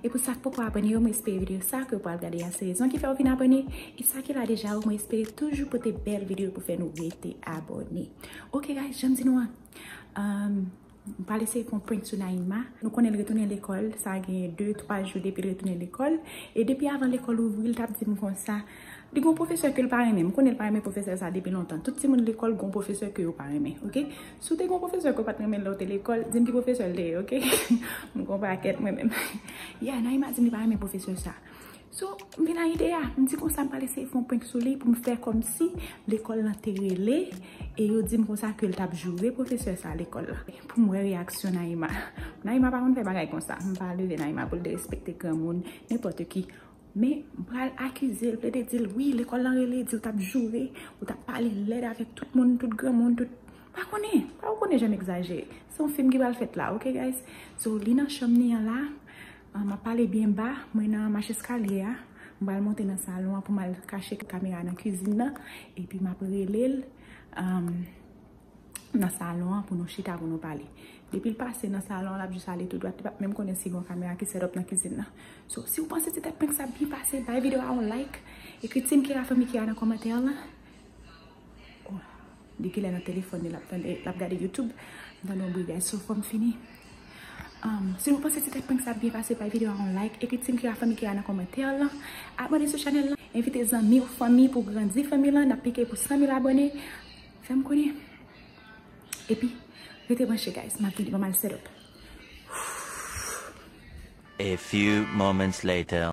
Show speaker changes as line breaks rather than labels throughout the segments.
E pou sa k poko abòne yo, mwen espere videyo sa ke ou pral gade a se rezon ki fè ou vin abòne. E sa ki la deja yo, mwen espere toujou pote bèl videyo pou fè nou rete abòne. Ok guys, janm di nou an, m pral eseye fè yon prank sou Naïma. Nou konnen l retounen lekòl, sa gen 2, 3 jou depi l retounen lekòl. E depi avan lekòl ouvri l t ap di m konsa. Li gon pwofesè ke l pa renmen. M konnen l pa renmen pwofesè sa depi lontan. Tout timoun lekòl gon pwofesè ke yo pa renmen, ok? Si w te gon pwofesè ke w pa t renmen lè w te lekòl, di m ki pwofesè l te ye, ok? M gon pakèt mwen menm. Yeah, Naïma di m li pa renmen pwofesè sa. So, m vin a ide a. M di konsa m pral eseye fè yon prank sou li pou m fè kòmsi lekòl lan te rele e yo di m konsa ke l t ap joure pwofesè sa lekòl la. Pou m wè reyaksyon Naïma. Naïma pa konn fè bagay konsa. M pa leve Naïma pou l derespekte granmoun, nenpòt ki. Men, m pral akize l, plede di l, wi, lekòl lan rele, di ou t ap joure, ou t ap pale lèd avèk tout moun, tout granmoun, tout, m pa konnen, pa ou konnen jan m egzajere. Se yon fim ki pral fèt la, ok guys? So, li nan chanm li an la, m ap pale byen ba, mwen nan macheskalye a, m pral monte nan salon an pou m al kache kamera nan kizin nan, epi m ap rele l. nan salon an pou nou chita pou nou pale. Depi l pase nan salon an, l ap jis ale tou dwat, li pap menm konnen si gen yon kamera ki sèt-òp nan kizin nan. So, si w panse ti tèt prank sa ap byen pase, bay videyo a yon like, ekri Team Kira Fanmi Kira nan kòmantè an lan. O, depi lè nan telefòn li, l ap tande, l ap gade YouTube, li tande yon bri gaz. So, fò m fini. Si nou panse ti tèt prank sa ap byen pase, bay videyo a yon like, ekri Team Kira Fanmi Kira nan kòmantè an lan. Abòne sou chanèl lan, envite zanmi ou, fanmi pou grandi fanmi lan, n ap pike pou 100 mil abòne. Fè m konnen. Epi, rete branche guys, m ap vini, m ap al set up. A
few moments later.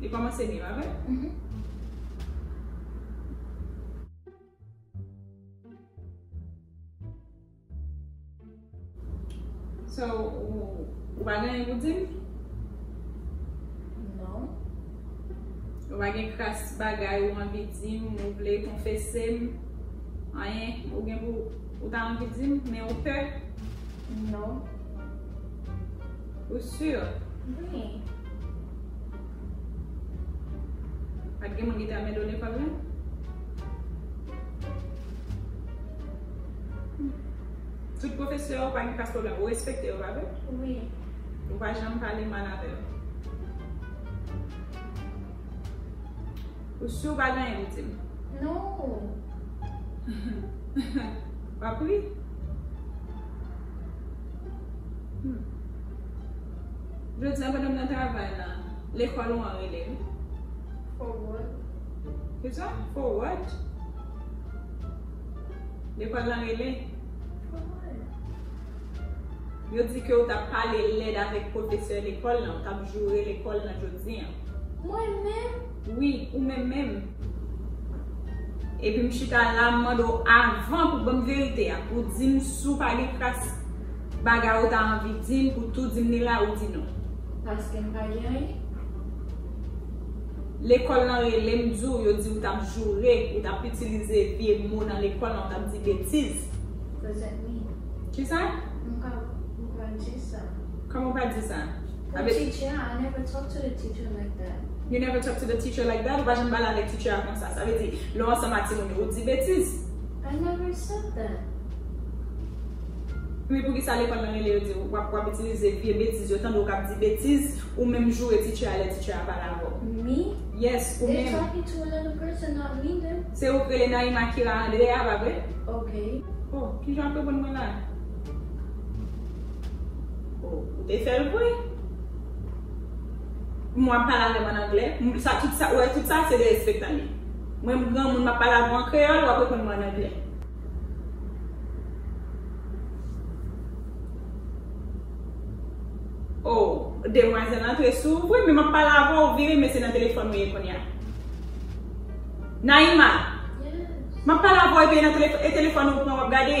Li komanse byen pa vre? So ou pa gen anyen pou dim?
Non.
Ou pa gen kras bagay ou anvi dim, ou vle konfesem? Anyen ou gen pou ou ta anvi dim men ou pè? Non. Ou sur?
Wi.
Pat gen moun ki te ame do lekòl la? Tout pwofesè yo pa gen pas pwoblèm. Ou respekte yo, pa vre? Wi.
Ou pa
janm pale mal avè yo? Ou sur ou pa gen anyen pou di m? Non. Wap ri? Jodi a madanm nan travay la. Lekòl ou an rele l.
For what?
Kisa? For what? Lekòl lan rele. For
what?
Yo di ke ou tap pale lèd avèk pwofesè lekòl lan, ou tap joure lekòl lan jodi an. Mwen menm?
Wi, ou menm
menm. Epi m chita la m mande w avan pou banm verite a, pou di m si w pa gen kras bagay ou ta anvi di m pou tou di m li la ou di non. Paske m pa
gen anyen.
Lekòl lan rele m di w yo di ou t ap joure, ou t ap itilize vye mo nan lekòl lan ou t ap di betiz.
Present
me. Kisa? M pa
pral di sa. Kòman w pa di sa?
Pou teacher a, I never talk to the
teacher
like
that. You never talk to the
teacher like that? Ou pa janm pale avèk teacher a konsa. Sa vle di, lè w ansanm ak timoun yo, ou di betiz. I never
said that.
Men poukisa lekòl nan rele yo di w ap, w ap itilize vye betiz yo, tande w k ap di betiz, ou menm joure teacher a lè teacher a pale avè w? Me? Yes,
ou menm. They're
talking to another
person, not me, then. Se ou k rele Naïma
Kira André a, pa vre? Okay.
Oh, kijan w ap
reponn mwen la? Oh, ou te fè l vre? Kouman w ap pale avè m an anglè? M sa tout sa, ou wè tout sa se derespektan li. Mwen m granmoun m ap pale avè w an kreyòl, ou ap reponn mwen an anglè. Oh, demwazèl lan antre sou ou vre men m ap pale avè w, ou vire men se nan telefòn ou ye kounye a. Naïma! Yes!
M ap pale avè
w epi e nan telefòn, e telefòn ou ou pran w ap gade?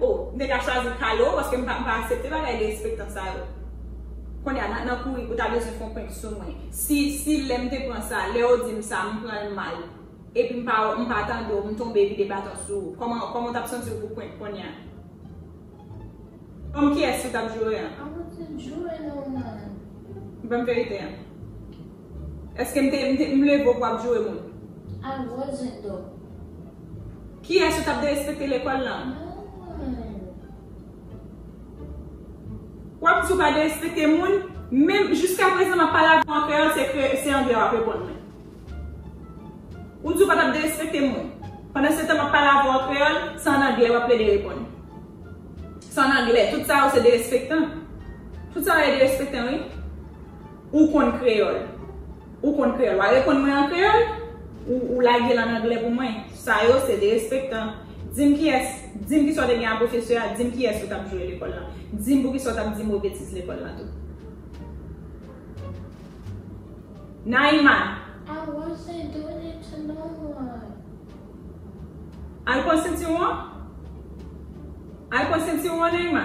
Oh m te ka chwazi
kale w paske m pa aksepte bagay derespektan sa yo Kounye a nan kouri ou ta bezwen fè yon prank sou mwen Si lè m te pran sa lè ou di m sa m pran l mal epi m pa wè m pa tande w m tonbe vide baton sou ou Kòman ou t ap santi w pou prank kounye a Kòm kiyès ou t ap joure an? Awote jwe non
man. Banm
verite an. Eske m te m leve w pou ap joure moun? A gwo
zen do.
Kiyès ou t ap derespekte lekòl lan? Nan. W ap di w pa derespekte moun, menm jiska prezan m ap pale avè w an kreyòl se kre se anglè w ap reponn mwen. Ou di w pa t ap derespekte moun, pandansetan m ap pale avè w an kreyòl se an anglè w ap plede reponn. Se an anglè. Tout sa yo se derespektan. Tout sa yo ye derespektan wi. Ou konn kreyòl? Ou konn kreyòl? Wa reponn mwen an kreyòl? Ou ou lage l an anglè pou mwen? Sa yo se derespektan. Di m kiyès, di m kisa w te gen a pwofesè a, di m kiyès ou t ap jwe lekòl la. Di m poukisa w t ap di mo betiz lekòl la tou.
Naima!
I wasn't doing it to no one. Al pran sentiwon an? Al pran sentiwon an Naima?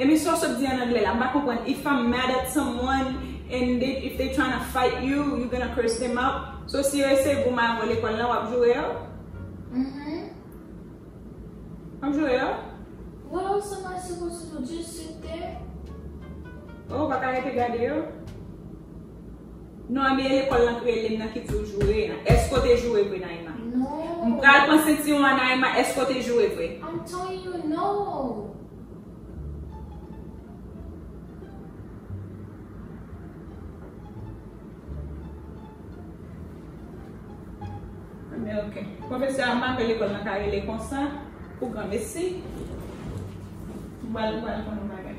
Emisyon
sot di an anglè la, m pa konprann if I'm mad at someone and they if they trying to fight you, you gonna curse them out? So si yo eseye gou mayo w lekòl la wap joure yo? Wap joure yo? Well
somebody suppose to just sit there.
Oh ou pa ka rete gade yo? Non anbyen lekòl lan k relem nan ki diw joure an èske w te joure vre Naima m pral
pran sentiwon
an Naima èske w te joure vre. I'm telling
you no.
Anbyen ok pwofesè a make lekòl lan ka rele konsa pou granmesi m pral pran yon bagay.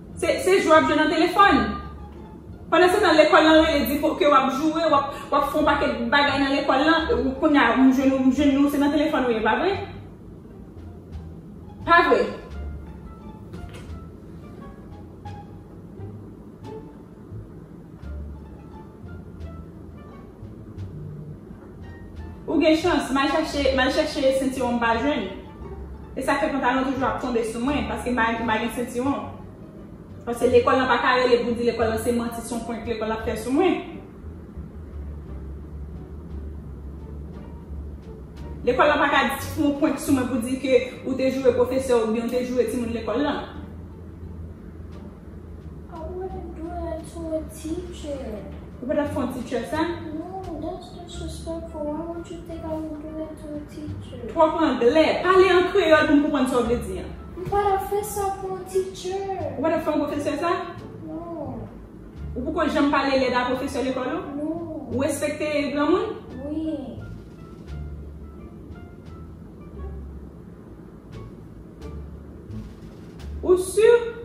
Se jwe wap jwe nan telefòn. Pandansetan lekòl lan rele di ke wap joure, wap fè yon pakèt bagay nan lekòl lan, kounya m jwenn ou se nan telefòn ou ye pa vre? Pa vre? Ou gen chans, mal chache, mal chèche sentiwon m pa jwenn. E sa k fè pantalon toujou ap tonbe sou mwen, paske m pa, m pa gen sentiwon. Paske lekòl lan pa ka rele pou di lekòl lan se manti, se yon prank lekòl la ap fè sou mwen. Lekòl lan pa ka fè yon prank sou mwen pou di ke ou te joure pwofesè oubyen ou te joure timoun lekòl lan.
Ou pa tap
fè yon
teacher sa? Twòp anglè,
pale an kreyòl pou m konprann sa w vle di an.
Ou pa tap fè yon pwofesè
sa?
Ou poko
janm pale elèv a pwofesè lekòl ou? Ou respekte granmoun? Ou sur?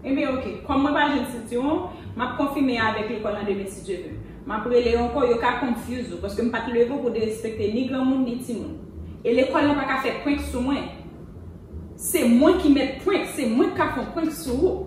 Enben ok, kòm mwen pa jwenn sitiwon, m ap konfime avèk lekòl lan demen si Dye ve. M ap rele yo ankò, yo ka confuse ou, paske m pa t leve w pou derespekte ni granmoun ni timoun. E lekòl lan pa ka fè prank sou mwen. Se mwen ki mèt prank, se mwen k ka fon prank sou ou.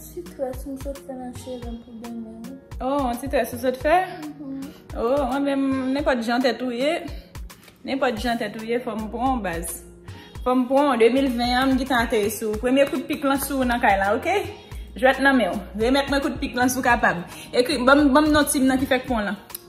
Ti tres m sot fè nan chevem pou demen wi. Oh yon ti tres ou
sot fè? Oh mwen menm nenpòt jan tèt ou ye, nenpòt jan tèt ou ye fòm pran w baz. Fòm pran w 2020 an m gintan ateri sou ou. Premye kout pik lan sou ou nan kay la ok. Jwèt nan men w. Remèt mwen kout pik lan si w kapab. Ekri banm banm non team nan ki fèk pran w lan.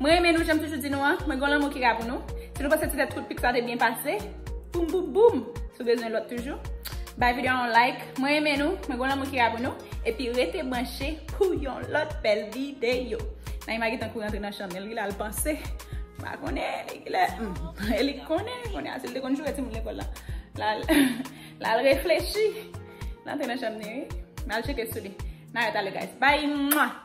Mwen renmen nou janm toujou di nou an, mwen gen yon lanmou ki ra pou nou. Si nou panse ti tèt trout pik sa te byen pase, boum boum boum! Si w bezwen lòt toujou, bay videyo a yon like. Mwen renmen nou, mwen gen yon lanmou ki ra pou nou. Epi rete branche pou yon lòt bèl videyo. Naima gen tan kou rantre nan chanm, li gen lè al panse, m pa konnen li gen lè, e li konnen kounye a, si l te konn joure timoun lekòl la, l al reflechi, l antre nan chanm li wi. M al tcheke sou li. N a rete ale guys. Bye!